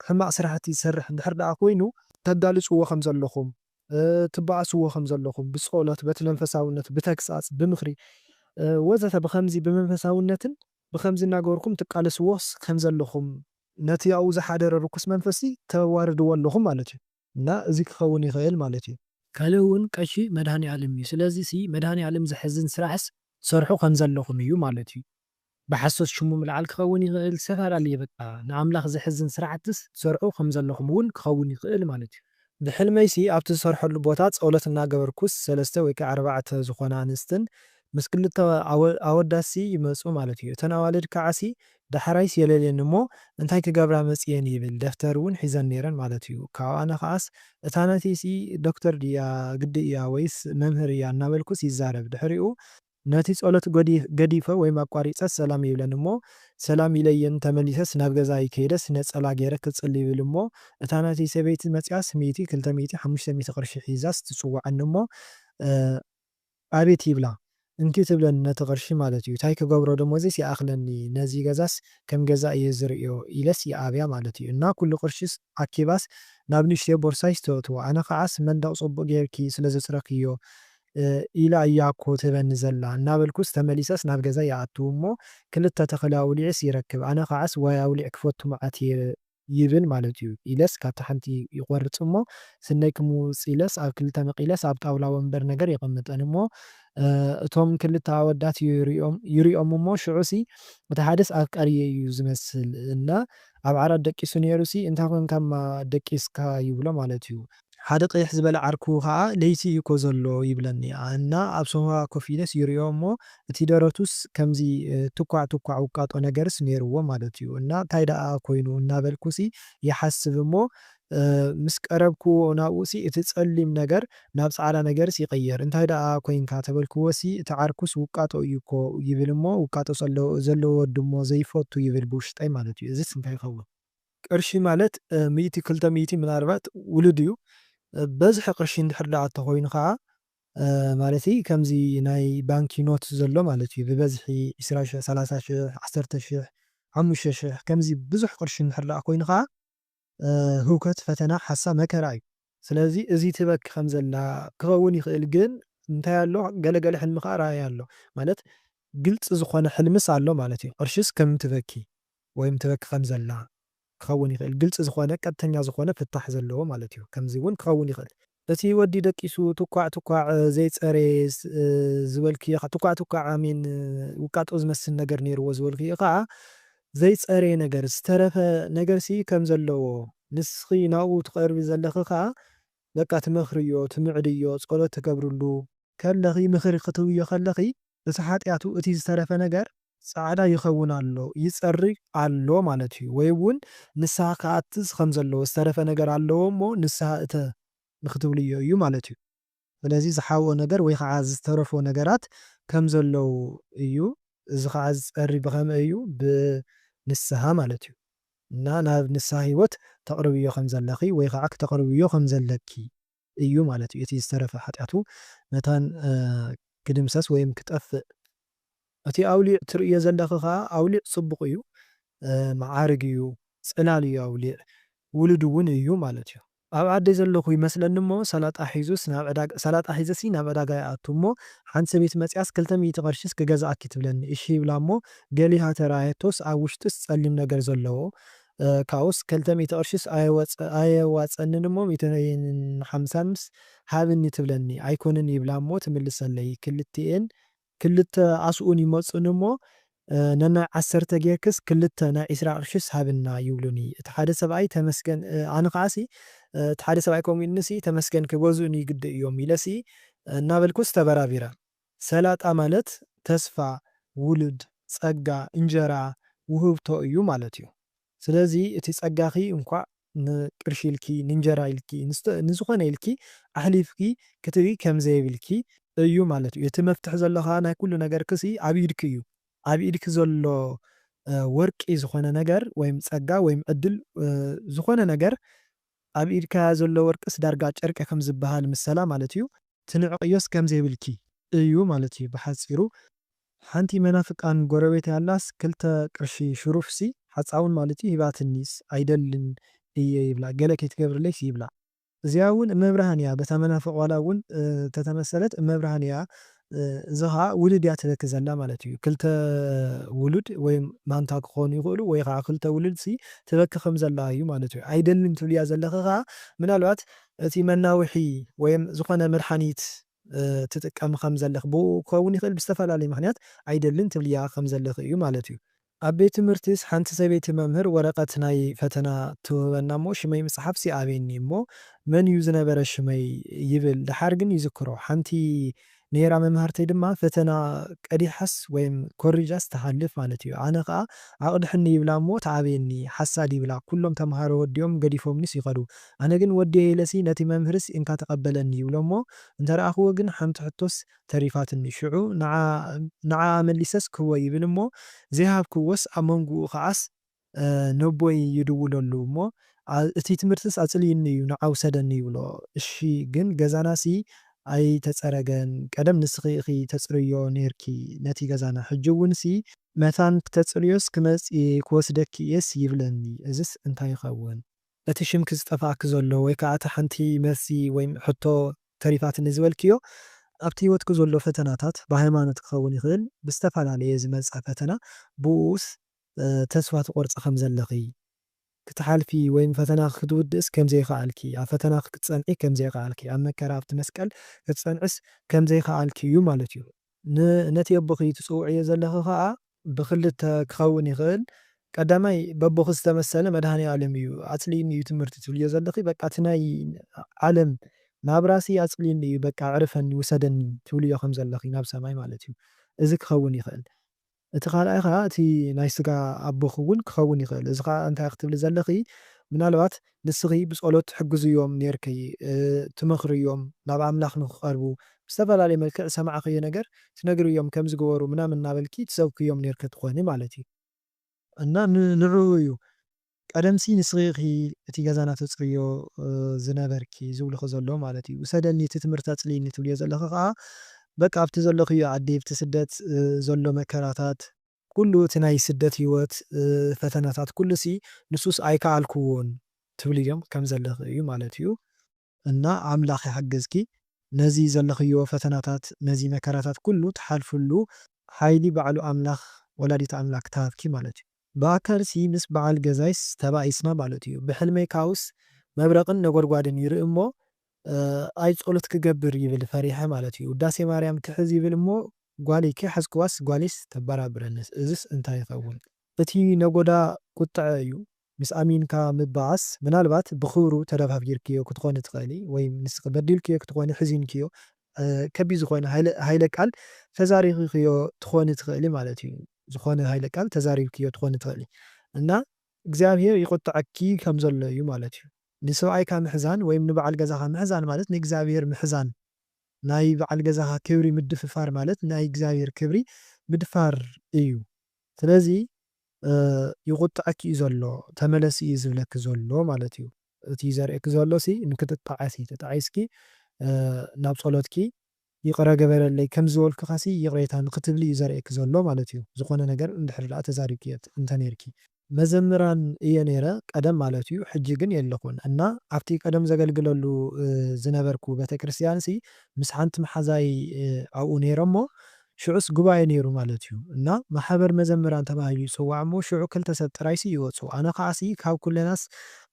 ሕማቕ ስራሕቲ ዝሰርሕ እንድሕር ደኣ ኮይኑ፣ ተጋልጽዎ ከም ዘለኹም ትባኣስዎ ከም ዘለኹም ብጾሎት በቲ መንፈሳውነት ብተግሳጽ ብምኽሪ ወዘተ ብኸምዚ ብመንፈሳውነትን ብኸምዚ እናገበርኩም ትቃለስዎ ከም ዘለኹም ነቲ ኣብኡ ዝሓደረ ርኩስ መንፈስሲ ተዋርድዎ ኣለኹም ማለት እዩ። እና እዚ ክኸውን ይኽእል ማለት እዩ። ካልእ እውን ቀሺ መድሃኒኣለም እዩ ስለዚሲ መድሃኒኣለም ዘሕዝን ስራሕስ ትሰርሑ ከም ዘለኹም እዩ ማለት እዩ። ብሓሶት ሽሙ ምልዓል ክኸውን ይኽእል ዝተፋላለየ በቃ ንኣምላኽ ዘሕዝን ስራሕትስ ትሰርሑ ከም ዘለኹም ውን ክኸውን ይኽእል ማለት ዩ። ብሕልመይሲ ኣብቲ ዝሰርሐሉ ቦታ ጸሎት እናገበርኩስ ሰለስተ ወይ ከኣ ኣርባዕተ ዝኾና ኣንስትን ምስ ክልተ ኣወዳትሲ ይመጹ ማለት ዩ እተን ኣዋልድ ከዓሲ ዳሕራይስ የለልየኒ እሞ እንታይ ክገብራ መጽየን ይብል ደፍተር ውን ሒዘን ኔረን ማለት ዩ ካብኣ ንኽኣስ እታ ናተይሲ ዶክተር ድያ ግዲ እያ ወይስ መምህር እያ እናበልኩስ ይዛረብ ድሕሪኡ ነቲ ጸሎት ገዲፈ ወይም ኣቋሪጸስ ሰላም ይብለኒ እሞ ሰላም ኢለየን ተመሊሰስ ናብ ገዛይ ከይደስ ነጸላ ጌረ ክጽሊ ይብል እሞ እታ ናተይ ሰበይቲ መጺኣስ ሚእቲ ክልተ ሚእቲ ሓሙሽተ ሚእቲ ቅርሺ ሒዛስ ትጽውዓኒ እሞ ኣቤት ይብላ እንኪ ትብለኒ ነቲ ቅርሺ ማለት እዩ ታይ ክገብሮ ደሞዘይስ ይኣክለኒ ነዚ ገዛስ ከም ገዛ እየ ዝርእዮ ኢለስ ይኣብያ ማለት እዩ እና ኩሉ ቅርሺስ ኣኪባስ ናብ ንእሽተይ ቦርሳይስ ተእትዎ ኣነ ከዓስ መንደቅ ጽቡቅ ጌርኪ ስለዘጽረክዮ ኢላ እያ እኮ ትህበኒ ዘላ እናበልኩስ ተመሊሰስ ናብ ገዛይ እኣቱ እሞ ክልተ ተኽሊ ኣውሊዐስ ይረክብ ኣነ ኸዓስ ዋይ ኣውሊዕ ክፈቱ መዓት እየ ይብል ማለት እዩ ኢለስ ካብታ ሓንቲ ይቖርፅ እሞ ስነይ ክምውፅ ኢለስ ኣብ ክልተ መቂለስ ኣብ ጣውላ ወንበር ነገር የቐምጠን እሞ እቶም ክልተ ኣወዳት ይሪኦም እሞ ሽዑሲ እቲ ሓደስ ኣፍቃሪየይ እዩ ዝመስል እና ኣብ ዓራት ደቂሱ ነይሩሲ እንታይ ኮንካማ ደቂስካ ይብሎ ማለት እዩ ሓደ ቅይሕ ዝበለ ዓርኩ ከኣ ለይቲ እዩኮ ዘሎ ይብለኒ እና ኣብ ሶፋ ኮፍ ኢለስ ይርእዮ እሞ እቲ ደረቱስ ከምዚ ትኳዕ ትኳዕ ውቃጦ ነገርስ ነይርዎ ማለት እዩ እና ታይ ደኣ ኮይኑ እናበልኩሲ ይሓስብ እሞ ምስ ቀረብክዎ ናብኡሲ እቲ ጸሊም ነገር ናብ ጻዕዳ ነገርስ ይቅየር እንታይ ደኣ ኮይንካ ተበልክዎሲ እቲ ዓርኩስ ውቃጦ እዩኮ ይብል እሞ ውቃጦ ዘለዎ ወዲ እሞ ዘይፈቱ ይብል ብውሽጠይ ማለት እዩ እዚስ እንታይ ይኸውን ቅርሺ ማለት ሚእቲ ክልተ ሚእቲ ምናልባት ውሉድ እዩ በዝሒ ቅርሺ እንድሕር ደኣ ተኾይኑ ከኣ ማለተይ ከምዚ ናይ ባንኪ ኖት ዘሎ ማለት እዩ ብበዝሒ ዕስራ ሽሕ ሰላሳ ሽሕ ዓሰርተ ሽሕ ሓሙሽተ ሽሕ ከምዚ ብዙሕ ቅርሺ እንድሕር ደኣ ኮይኑ ከኣ ህውከት ፈተና ሓሳ መከራ እዩ። ስለዚ እዚ ትበኪ ከም ዘላ ክኸውን ይኽእል ግን እንታይ ኣሎ ገለ ገለ ሕልሚ ከኣ ረኣያ ኣሎ ማለት ግልጺ ዝኾነ ሕልምስ ኣሎ ማለት እዩ ቅርሽስ ከም ትበኪ ወይም ትበኪ ከም ዘላ ክኸውን ይኽእል ግልጺ ዝኾነ ቀጥተኛ ዝኾነ ፍታሕ ዘለዎ ማለት እዩ ከምዚ ውን ክኸውን ይኽእል። እቲ ወዲ ደቂሱ ትኳዕ ትኳዕ ዘይጸረየ ዝበልክዮ ትኳዕ ትኳዕ ኣሜን ውቃጦ ዝመስል ነገር ኔርዎ ዝበልክዮ ከኣ ዘይጸረየ ነገር፣ ዝተረፈ ነገርሲ ከም ዘለዎ፣ ንስኺ ናብኡ ትቐርቢ ዘለኺ ከኣ በቃ ትመኽርዮ፣ ትምዕድዮ፣ ጸሎት ትገብርሉ። ከለኺ፣ ምኽሪ ክትህብዮ ከለኺ፣ እቲ ሓጢኣቱ፣ እቲ ዝተረፈ ነገር፣ ጻዕዳ ይኸውን ኣሎ፣ ይጸሪ ኣሎ ማለት እዩ፣ ወይ እውን ንስሓ ክኣትት ከም ዘለዎ፣ ዝተረፈ ነገር ኣለዎ እሞ ንስሓ እተ ንኽትብልዮ እዩ ማለት እዩ። ስለዚ ዝሓብኦ ነገር ወይ ኸዓ ዝተረፎ ነገራት ከም ዘለዉ እዩ። እዚ ኸዓ ዝፀሪ ብኸመይ እዩ? ብንስሃ ማለት እዩ። እና ናብ ንስሃ ህይወት ተቕርብዮ ከም ዘለኺ ወይ ኸዓ ክተቕርብዮ ከም ዘለኪ እዩ ማለት እዩ። እቲ ዝተረፈ ሓጢኣቱ መታን ክድምሰስ ወይም ክጠፍእ እቲ ኣውሊዕ ትርእዮ ዘለኺ ከኣ ኣውሊዕ ጽቡቕ እዩ መዓርግ እዩ ጽላል እዩ ኣውሊዕ ውሉድ እውን እዩ ማለት እዩ። ኣብ ዓደይ ዘለኹ ይመስለኒ እሞ ሰላጣ ሒዙስ ናብ ዕዳጋ ሰላጣ ሒዘሲ ናብ ዕዳጋ ይኣቱ እሞ ሓንቲ ሰበይቲ መጺኣስ ክልተ ሚእቲ ቅርሺስ ክገዝኣኪ ትብለኒ እሺ ይብላ እሞ ገሊሃ ተራእየቶስ ኣብ ውሽጥስ ጸሊም ነገር ዘለዎ ካብኡስ ክልተ ሚእቲ ቅርሺስ ኣየወጽ ኣየዋጽኣንን እሞ ሚእትን ሓምሳንስ ሃብኒ ትብለኒ ኣይኮንን ይብላ እሞ ትምልሰለይ ክልቲኤን ክልተ ኣስኡን ይመጹኒ እሞ፣ ነናይ ዓሰርተ ጌርክስ ክልተ ናይ ዕስራ ቅርሺስ ሃብና ይብሉኒ። እቲ ሓደ ሰብኣይ ተመስገን ኣነ ኸኣሲ እቲ ሓደ ሰብኣይ ከምኡ ኢሉኒሲ ተመስገን ክገዝኡኒ ግዲ እዮም ኢለሲ እናበልኩስ ተበራቢረ። ሰላጣ ማለት ተስፋ፣ ውሉድ፣ ጸጋ፣ እንጀራ፣ ውህብቶ እዩ ማለት እዩ። ስለዚ እቲ ጸጋኺ እንኳዕ ንቅርሺ ኢልኪ ንእንጀራ ኢልኪ ንዝኾነ ኢልኪ ኣሕሊፍኪ ክትቢ ከም ዘይብልኪ እዩ ማለት እዩ። እቲ መፍትሒ ዘሎ ከኣ ናይ ኩሉ ነገርኪ'ሲ ኣብ ኢድኪ እዩ። ኣብ ኢድኪ ዘሎ ወርቂ ዝኾነ ነገር ወይም ጸጋ ወይም ዕድል ዝኾነ ነገር ኣብ ኢድካ ዘሎ ወርቅስ ዳርጋ ጨርቂ ከም ዝበሃል ምሰላ ማለት እዩ። ትንዕቕዮስ ከም ዘይብልኪ እዩ ማለት እዩ ብሓጺሩ። ሓንቲ መናፍቃን ጎረቤተይ ኣላስ ክልተ ቅርሺ ሽሩፍሲ ሓጻውን ማለት እዩ ሂባትኒስ ኣይደልን እየ ይብላ ገለ ከይትገብርለይስ ይብላ። እዚኣ እውን እመብርሃን እያ በታ መናፍቅ ዋላ እውን ተተመሰለት እመብርሃን እያ እዚ ኸኣ ውሉድ እያ ትበኪ ዘላ ማለት እዩ። ክልተ ውሉድ ወይ ማንታ ክኾኑ ይኽእሉ ወይ ኸኣ ክልተ ውሉድሲ ትበኪ ከም ዘላ እዩ ማለት እዩ። ኣይደልን ትብልያ ዘለኺ ኸኣ ምናልባት እቲ መናውሒ ወይ ዝኾነ መድሓኒት ትጥቀሚ ከም ዘለኺ ብኡ ክኸውን ይኽእል ብዝተፈላለየ ምኽንያት ኣይደልን ትብልያ ከም ዘለኺ እዩ ማለት እዩ። ኣብ ቤት ትምህርቲስ ሓንቲ ሰበይቲ መምህር ወረቐት ናይ ፈተና ትውህበና እሞ ሽመይ ምጽሓፍስ ይኣብየኒ እሞ መን እዩ ዝነበረ ሽመይ ይብል ደሓር ግን ይዝክሮ ሓንቲ ነይራ መምሃርተይ ድማ ፈተና ቀዲሓስ ወይም ኮሪጃስ ትሓልፍ ማለት እዩ ኣነ ከኣ ኣቕድሕኒ ይብላ እሞ ትኣብየኒ ሓሳድ ይብላ ኩሎም ተምሃሮ ወዲኦም ገዲፎምኒስ ይኸዱ ኣነ ግን ወዲየ ኢለሲ ነቲ መምህርስ እንካ ተቐበለኒ ይብሎ እሞ እንተረኣኽዎ ግን ሓንቲ ሕቶስ ተሪፋትኒ ሽዑ ንዓኣ መሊሰስ ክህቦ ይብል እሞ ዘይሃብክዎስ ኣብ መንጉኡ ከዓስ ነቦይ ይድውለሉ እሞ እቲ ትምህርትስ ኣጽልዩኒ እዩ ንዓ ውሰደኒ ይብሎ እሺ ግን ገዛናሲ ኣይተጸረገን ቀደም ንስኺ ኢኺ ተጽርይዮ ኔርኪ ነቲ ገዛና ሕጂ እውንሲ መታን ክተጽርዮስ ክመጽ እየ ክወስደኪ እየስ ይብለኒ እዝስ እንታይ ይኸውን ነቲ ሽምኪ ዝጠፍኣኪ ዘሎ ወይ ከኣ እታ ሓንቲ መልሲ ወይም ሕቶ ተሪፋትኒ ዝበልክዮ ኣብቲ ሂወትኪ ዘሎ ፈተናታት ብሃይማኖት ክኸውን ይኽእል ብዝተፈላለየ ዝመጸ ፈተና ብኡኡስ ተስፋ ትቆርጺ ከም ዘለኺ ክትሓልፊ ወይም ፈተናኺ ክትውድእስ ከም ዘይኸኣልኪ ኣብ ፈተናኺ ክትጸንዒ ከም ዘይኸኣልኪ ኣብ መከራ ኣብቲ መስቀል ክትጸንዕስ ከም ዘይኸኣልኪ እዩ ማለት እዩ። ን ነቲ የቦኺ ትጽውዕዮ ዘለኺ ከኣ ብኽልተ ክኸውን ይኽእል ቀዳማይ በቦኺ ዝተመሰለ መድሃኔኣለም እዩ ኣጽሊኢኒ እዩ ትምህርቲ ትብልዮ ዘለኺ በቃ እቲ ናይ ዓለም ናብራሲ ኣጽሊኢኒ እዩ በቃ ኣዕርፈኒ ውሰደኒ ትብልዮ ከም ዘለኺ ናብ ሰማይ ማለት እዩ እዚ ክኸውን ይኽእል እቲ ካልኣይ ከኣ እቲ ናይ ስጋ ኣቦኺ እውን ክኸውን ይኽእል። እዚ ከኣ እንታይ ክትብሊ ዘለኺ ምናልባት ንስኺ ብጸሎት ትሕግዝዮም ኔርኪ፣ ትመኽርዮም ናብ ኣምላኽ ንኽቐርቡ፣ ብዝተፈላለየ መልክዕ ዝሰማዕክዮ ነገር ትነግርዮም ከምዚ ግበሩ ምናምን እናበልኪ ትሰብክዮም ኔርኪ ትኾኒ ማለት እዩ። እና ንዕኡ እዩ ቀደምሲ ንስኺ ኢኺ እቲ ገዛና ተጽርይዮ ዝነበርኪ ዝብሉኺ ዘለዉ ማለት እዩ። ውሰደኒ እቲ ትምህርቲ ኣጽልይኒ ትብልዮ ዘለኺ ከኣ በቃ ኣብቲ ዘለኽዮ ዓዲ ኣብቲ ስደት ዘሎ መከራታት፣ ኩሉ እቲ ናይ ስደት ህይወት ፈተናታት ኩሉሲ ንሱስ ኣይከኣልክዎን ትብልዮም ከም ዘለኺ እዩ ማለት እዩ። እና ኣምላኽ ይሓግዝኪ ነዚ ዘለኽዮ ፈተናታት ነዚ መከራታት ኩሉ ትሓልፍሉ ሓይሊ ባዕሉ ኣምላኽ ወላዲተ ኣምላክ ትሃብኪ ማለት እዩ ብኣካልሲ ምስ ባዓል ገዛይስ ተባኢስና ማለት እዩ ብሕልመይ ካውስ መብረቅን ነጎድጓድን ይርኢ እሞ ኣይ ፆሎት ክገብር ይብል ፈሪሐ ማለት እዩ ውዳሴ ማርያም ክሕዝ ይብል እሞ ጓለይ ከይሓዝክዋስ ጓለይስ ተባራብረንስ እዝስ እንታይ ይከውን እቲ ነጎዳ ቁጥዐ እዩ ምስ ኣሚንካ ምባኣስ ምናልባት ብክብሩ ተደፋፊርክዮ ክትኮኒ ትክእሊ ወይ ንስኪ በዲልክዮ ክትኮኒ ሕዚንክዮ ከቢድ ዝኮነ ሃይለ ቃል ተዛሪክክዮ ትኮኒ ትክእሊ ማለት እዩ ዝኮነ ሃይለ ቃል ተዛሪብክዮ ትኮኒ ትክእሊ እና እግዚኣብሄር ይቁጥዐኪ ከም ዘሎ እዩ ማለት እዩ ንስብኣይካ ምሕዛን ወይም ንባዓል ገዛካ ምሕዛን ማለት ንእግዚኣብሄር ምሕዛን ናይ ባዓል ገዛካ ክብሪ ምድፍፋር ማለት ናይ እግዚኣብሄር ክብሪ ምድፋር እዩ ስለዚ ይቁጠዐኪ እዩ ዘሎ ተመለሲ እዩ ዝብለኪ ዘሎ ማለት እዩ እቲ ዘርእየኪ ዘሎ ሲ ንክትጣዓሲ ተጣዒስኪ ናብ ፆሎትኪ ይቅረ ገበረለይ ከምዚ ዝበልኩካ ሲ ይቅሬታ ንክትብሊ እዩ ዘርእየኪ ዘሎ ማለት እዩ ዝኮነ ነገር እንድሕር ዳኣ ተዛሪብኪ እንተኔርኪ። መዘምራን እየ ነይረ ቀደም ማለት እዩ ሕጂ ግን የለኩን እና ኣብቲ ቀደም ዘገልግለሉ ዝነበርኩ ቤተክርስትያን ሲ ምስ ሓንቲ መሓዛይ ኣብኡ ነይረ እሞ ሽዑስ ጉባኤ ነይሩ ማለት እዩ እና ማሕበር መዘምራን ተባሂሉ ይጽዋዕ እሞ ሽዑ ክልተ ሰብ ጥራይሲ ይወጹ ኣነ ከዓሲ ካብ ኩለናስ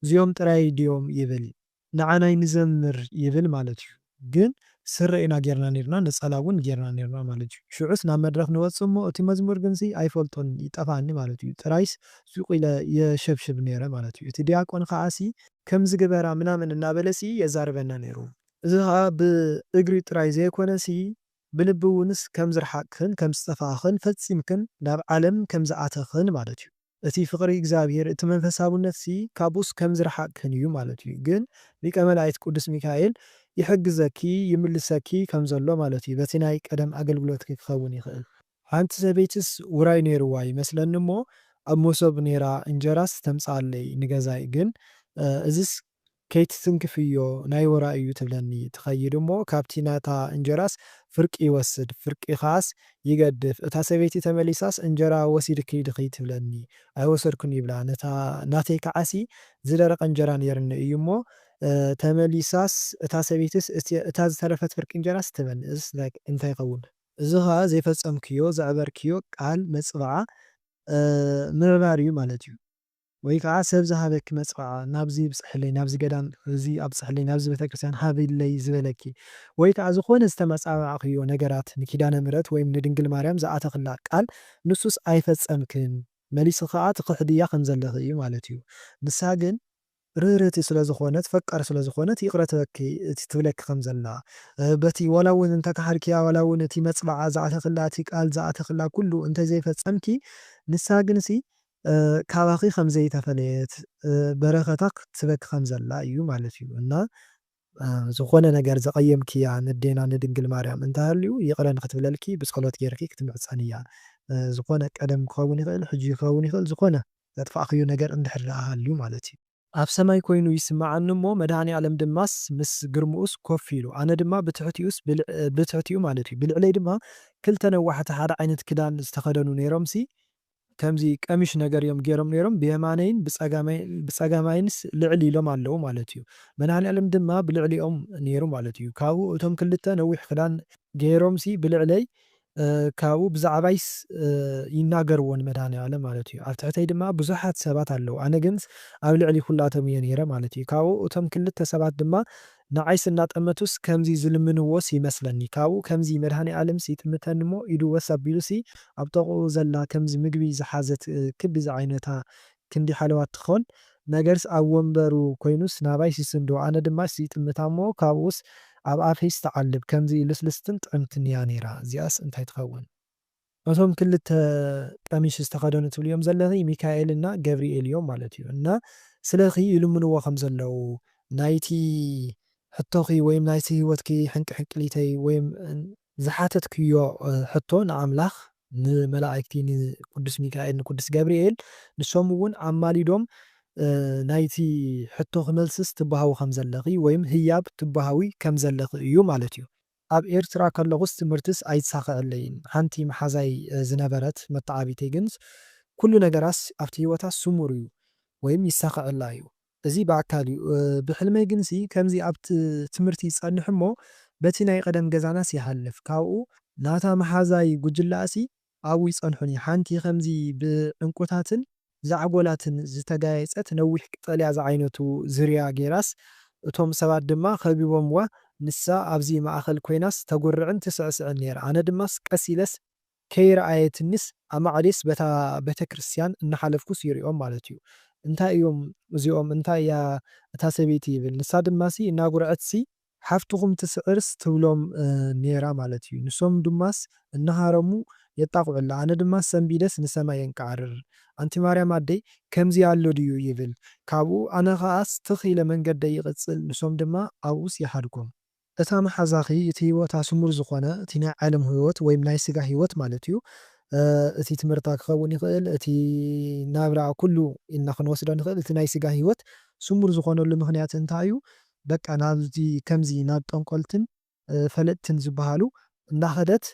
እዚኦም ጥራይ ድዮም ይብል ንዓናይ ንዘምር ይብል ማለት እዩ ግን ስረ ኢና ጌርና ነርና ነጸላ ውን ጌርና ነርና ማለት እዩ ሽዑስ ናብ መድረኽ ንወጽእ እሞ እቲ መዝሙር ግንሲ ኣይፈልጦን ይጠፍኣኒ ማለት እዩ ጥራይስ ሱቅ ኢለ የሸብሽብ ነይረ ማለት እዩ እቲ ድያቆን ከዓሲ ከምዚ ግበራ ምናምን እናበለሲ የዛርበና ነይሩ። እዚ ከኣ ብእግሪ ጥራይ ዘይኮነሲ ብልቢ እውንስ ከም ዝረሓቅክን ከም ዝጠፋእኽን ፈጺምክን ናብ ዓለም ከም ዝኣተኽን ማለት እዩ። እቲ ፍቕሪ እግዚኣብሔር እቲ መንፈሳውነትሲ ካብኡስ ከም ዝረሓቅክን እዩ ማለት እዩ። ግን ሊቀ መላእክት ቅዱስ ሚካኤል ይሕግዘኪ ይምልሰኪ ከም ዘሎ ማለት እዩ። በቲ ናይ ቀደም ኣገልግሎትኪ ክኸውን ይኽእል። ሓንቲ ሰበይትስ ውራይ ነይርዋ ይመስለኒ እሞ ኣብ መሶብ ነይራ እንጀራስ ተምጽኣለይ ንገዛይ ግን እዝስ ከይትትንክፍዮ ናይ ወራ እዩ ትብለኒ ትኸይድ እሞ ካብቲ ናታ እንጀራስ ፍርቂ ይወስድ ፍርቂ ከኣስ ይገድፍ እታ ሰበይቲ ተመሊሳስ እንጀራ ወሲድኪ ድኺ ትብለኒ ኣይወሰድኩን ይብላ ነታ ናተይ ከዓሲ ዝደረቀ እንጀራ ነይርኒ እዩ እሞ ተመሊሳስ እታ ሰበይትስ እታ ዝተረፈት ፍርቂ እንጀራስ ትበኒ እዝስ እንታይ ይኸውን እዚ ከኣ ዘይፈጸምክዮ ዘዕበርክዮ ቃል መጽብዓ ምዕባር እዩ ማለት እዩ። ወይ ከኣ ሰብ ዝሃበኪ መጽፈዓ ናብዚ ይብጽሕለይ ናብዚ ገዳም እዚ ኣብጽሕለይ ናብዚ ቤተክርስትያን ሃብለይ ዝበለኪ ወይ ከኣ ዝኾነ ዝተመጻባዕክዮ ነገራት ንኪዳነ ምህረት ወይም ንድንግል ማርያም ዝኣተኽላ ቃል ንሱስ ኣይፈጸምክን መሊስኺ ከኣ ትኽሕድያ ከምዘለኺ እዩ ማለት እዩ ንሳ ግን ርህርቲ ስለ ዝኾነት ፈቃር ስለ ዝኾነት ይቅረ ትበኪ እቲ ትብለኪ ከምዘላ በቲ ዋላ ውን እንተ ከሓድክያ ዋላ ውን እቲ መጽብዓ ዝኣተኽላ እቲ ቃል ዝኣተኽላ ኩሉ እንተ ዘይፈጸምኪ ንሳ ግንሲ ካባኺ ከም ዘይተፈለየት በረከታ ክትበኪ ከም ዘላ እዩ ማለት እዩ እና ዝኾነ ነገር ዘቐየምክያ ነዴና ንድንግል ማርያም እንተሃልዩ ይቕረ ንክትብለልኪ ብጸሎት ጌርኪ ክትምሕጸንያ ዝኾነ ቀደም ክኸውን ይኽእል ሕጂ ክኸውን ይኽእል ዝኾነ ዘጥፋእክዮ ነገር እንድሕር ደኣ ሃልዩ ማለት እዩ ኣብ ሰማይ ኮይኑ ይስመዓኒ እሞ መድሃኒኣለም ድማስ ምስ ግርምኡስ ኮፍ ኢሉ ኣነ ድማ ብትሕቲኡስ ብትሕቲኡ ማለት እዩ ብልዕለይ ድማ ክልተ ነዋሕቲ ሓደ ዓይነት ክዳን ዝተኸደኑ ኔሮምሲ ከምዚ ቀሚሽ ነገር እዮም ጌሮም ኔሮም ብየማነይን ብጸጋማይንስ ልዕል ኢሎም ኣለዉ ማለት እዩ መድሃኒኣለም ድማ ብልዕሊኦም ኔሩ ማለት እዩ ካብኡ እቶም ክልተ ነዊሕ ክዳን ጌሮምሲ ብልዕለይ ካብኡ ብዛዕባይስ ይናገርዎ ንመድሃኒኣለም ማለት እዩ ኣብ ትሕተይ ድማ ብዙሓት ሰባት ኣለዉ ኣነ ግንስ ኣብ ልዕሊ ኩላቶም እየ ኔረ ማለት እዩ ካብኡ እቶም ክልተ ሰባት ድማ ንዓይስ እናጠመቱስ ከምዚ ዝልምንዎስ ይመስለኒ ካብኡ ከምዚ መድሃኒኣለምስ ይጥምተኒሞ ኢዱ ወስ ኣቢሉሲ ኣብ ጥቕኡ ዘላ ከምዚ ምግቢ ዝሓዘት ክቢ ዝዓይነታ ክንዲ ሓለዋ ትኾን ነገርስ ኣብ ወንበሩ ኮይኑስ ናባይ ይስስንዶ ኣነ ድማስ ይጥምታሞ ካብኡስ ኣብ ኣፈይስ ትዓልብ ከምዚ ልስልስትን ጥዕምትንያ ነይራ እዚኣስ እንታይ ትኸውን እቶም ክልተ ቀሚሽ ዝተኸደኑ ትብልዮም ዘለኺ ሚካኤል እና ገብሪኤል እዮም ማለት እዩ እና ስለኺ ይልምንዎ ከም ዘለዉ ናይቲ ሕቶኺ ወይም ናይቲ ህይወትኪ ሕንቅሕንቅሊተይ ወይም ዝሓተትክዮ ሕቶ ንኣምላኽ ንመላእክቲ ንቅዱስ ሚካኤል ንቅዱስ ገብሪኤል ንሶም እውን ኣማሊዶም ናይቲ ሕቶኺ መልስስ ትባሃዊ ከም ዘለኺ ወይም ህያብ ትባሃዊ ከም ዘለኺ እዩ ማለት እዩ። ኣብ ኤርትራ ከለኹስ ትምህርትስ ኣይትሳኸዐለይን። ሓንቲ መሓዛይ ዝነበረት መተዓቢተይ ግን ኩሉ ነገራስ ኣብቲ ህይወታስ ስሙር'ዩ ወይም ይሳኸዐላ'ዩ። እዚ ብኣካል'ዩ። ብሕልመይ ግንሲ ከምዚ ኣብ ትምህርቲ ይጸንሕ'ሞ በቲ ናይ ቐደም ገዛናስ ይሓልፍ። ካብኡ። ናታ መሓዛይ ጉጅለኣሲ ኣብኡ ይጸንሑኒ። ሓንቲ ኸምዚ ብዕንቊታትን ዛዕጎላትን ዝተጋየጸት ነዊሕ ቀጠልያ ዝዓይነቱ ዙርያ ገይራስ፣ እቶም ሰባት ድማ ኸቢቦምዋ፣ ንሳ ኣብዚ ማእከል ኰይናስ ተጕርዕን ትስዕስዕን ነይራ። ኣነ ድማስ ቀስ ኢለስ ከይረኣየትኒስ ኣማዕድየስ በታ ቤተ ክርስትያን እናሓለፍኩስ ይርእዮም ማለት እዩ። እንታይ እዮም እዚኦም? እንታይ እያ እታ ሰበይቲ? ይብል። ንሳ ድማሲ እናጕርዐትሲ ሓፍትኹም ትስዕርስ ትብሎም ኔራ ማለት እዩ ንሶም ድማስ እናሃረሙ የጣቕዑላ ኣነ ድማ ሰንቢደስ ንሰማይ የንቃዕርር ኣንቲ ማርያም ኣደይ ከምዚ ኣሎ ድዩ ይብል ካብኡ ኣነ ኸኣስ ትኽ ኢለ መንገደይ ይቕጽል ንሶም ድማ ኣብኡስ ይሓድጎም። እታ መሓዛኺ እቲ ህይወታ ስሙር ዝኾነ እቲ ናይ ዓለም ህይወት ወይም ናይ ስጋ ህይወት ማለት እዩ እቲ ትምህርታ ክኸውን ይኽእል እቲ ናብራ ኩሉ ኢልና ክንወስዶ ንኽእል እቲ ናይ ስጋ ህይወት ስሙር ዝኾነሉ ምኽንያት እንታይ እዩ በቃ ናብዚ ከምዚ ናብ ጠንቆልትን ፈለጥትን ዝብሃሉ እናኸደት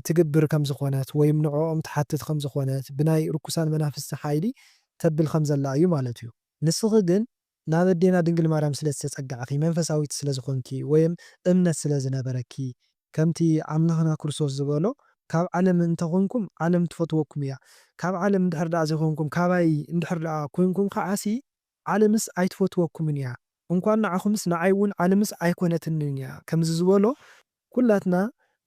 ትግብር ከም ዝኾነት ወይም ንዕኦም ትሓትት ከም ዝኾነት ብናይ ርኩሳን መናፍስቲ ሓይሊ ተብል ከም ዘላ እዩ ማለት እዩ። ንስኺ ግን ናብ ኣዴና ድንግል ማርያም ስለ ዝተጸጋዕኪ መንፈሳዊት ስለ ዝኾንኪ ወይም እምነት ስለ ዝነበረኪ፣ ከምቲ ኣምላኽና ክርስቶስ ዝበሎ ካብ ዓለም እንተ ኾንኩም ዓለም ትፈትወኩም እያ፣ ካብ ዓለም እንድሕር ደኣ ዘይኮንኩም ካባይ እንድሕር ደኣ ኮይንኩም ከዓሲ ዓለምስ ኣይትፈትወኩምን እያ፣ እንኳን ንዓኹምስ ንዓይ እውን ዓለምስ ኣይኮነትንን እያ ከምዚ ዝበሎ፣ ኩላትና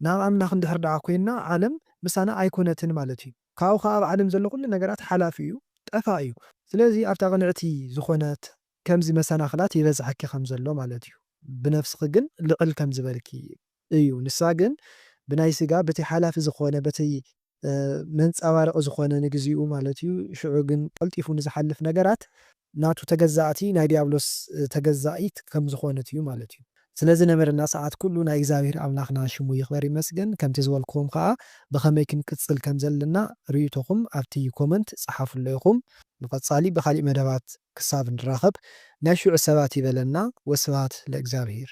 ናብ ኣምላኽ እንድሕር ደኣ ኮይንና ዓለም ምሳና ኣይኮነትን ማለት እዩ፣ ካብኡ ከኣ ኣብ ዓለም ዘሎ ኩሉ ነገራት ሓላፊ እዩ፣ ጠፋእ እዩ። ስለዚ ኣብታ ቅንዕቲ ዝኾነት ከምዚ መሰናኽላት ይበዝሓኪ ከም ዘሎ ማለት እዩ፣ ብነፍስኺ ግን ልዕል ከም ዝበልኪ እዩ ንሳ ግን ብናይ ስጋ በቲ ሓላፊ ዝኾነ በቲ መንጻባረቂ ዝኾነ ንግዚኡ ማለት እዩ ሽዑ ግን ቀልጢፉ ንዝሓልፍ ነገራት ናቱ ተገዛእቲ ናይ ድያብሎስ ተገዛኢት ከም ዝኾነት እዩ ማለት እዩ ስለ ዝነበረና ሰዓት ኩሉ ናይ እግዚኣብሄር ኣምላኽና ሽሙ ይኽበር ይመስገን ከምቲ ዝበልክዎም ከኣ ብኸመይ ክንቅጽል ከም ዘለና ርእይቶኹም ኣብቲ ኮመንት ጸሓፍሎ ኢኹም ንቀጻሊ ብኻሊእ መደባት ክሳብ ንራኸብ ናይ ሽዑ ሰባት ይበለና ወስብሃት ለእግዚኣብሄር።